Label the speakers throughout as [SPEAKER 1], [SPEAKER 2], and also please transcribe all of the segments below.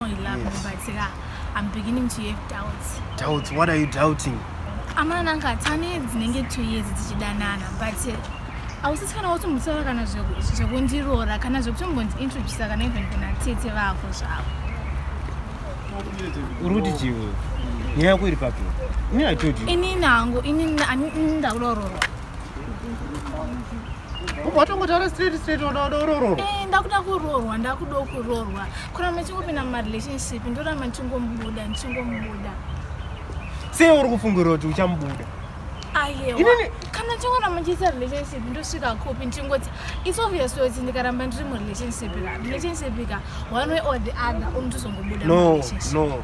[SPEAKER 1] know you love yes. me, but yeah, I'm beginning to have doubts. Doubts? What are you
[SPEAKER 2] doubting? Amana anga
[SPEAKER 1] tane dzinenge two years tichidanana, but hausisi kana watombotsaura kana zvekundiroora kana zvekutombondiintroducisa kana even kuna tete vako zvavo.
[SPEAKER 2] Uri kuti chii wewe? Nyaya yako iri papi? Ini I told you. Ini nangu,
[SPEAKER 1] ini ndakurororwa.
[SPEAKER 2] watongotaura straight straight unoda urororwa eh, ndakuda kurorwa
[SPEAKER 1] ndakuda kurorwa kuramba ndichingopinda mumarelationship ndoramba ndichingomubuda ndichingomubuda
[SPEAKER 2] sei uri kufungirira kuti uchamubuda ayewa
[SPEAKER 1] kana chingoramba ndichiita relationship ndosvika kupi ndichingoita its obvious kuti ndikaramba ndiri murelationship ka relationship ka one way or the other unotozongobuda no no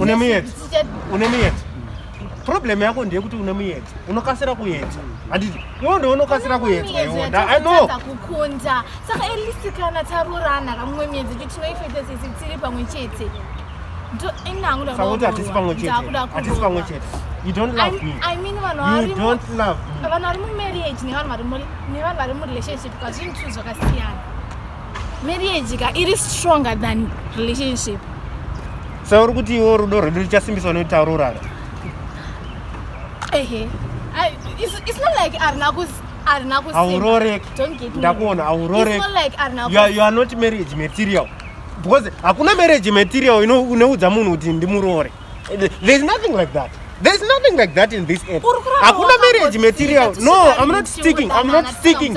[SPEAKER 1] une muyedzo une muyedzo
[SPEAKER 2] problem yako ndeyekuti une muyedzo unokasira kuyedzo handiti iwo ndo unokasira kuedzwa iwo ndaanoza kukunda
[SPEAKER 1] saka elisi kana taroorana kamumwe miyedzo kuti tinoifeta sisi tiri pamwe chete ndoinangudakuti
[SPEAKER 2] hatisi pamwe chete hatisi pamwe chete you don't love me i mean vanhu vari you
[SPEAKER 1] don't love
[SPEAKER 2] me vanhu vari mu marriage
[SPEAKER 1] nevanhu vari mu nevanhu vari mu relationship kazvinhu zvakasiyana marriage ka iri stronger than relationship sa
[SPEAKER 2] uri kuti iwo rudo rwedu ruchasimbiswa netauro urara ehe
[SPEAKER 1] it's not like arina kuzi arina kusi aurorek
[SPEAKER 2] don't get me ndakuona
[SPEAKER 1] aurorek it's
[SPEAKER 2] not like arina kusi you are,
[SPEAKER 1] you are not marriage
[SPEAKER 2] material because hakuna marriage material ino unoudza munhu kuti ndimuroore there is nothing like that there is nothing like that in this end hakuna marriage material no i'm not sticking i'm not sticking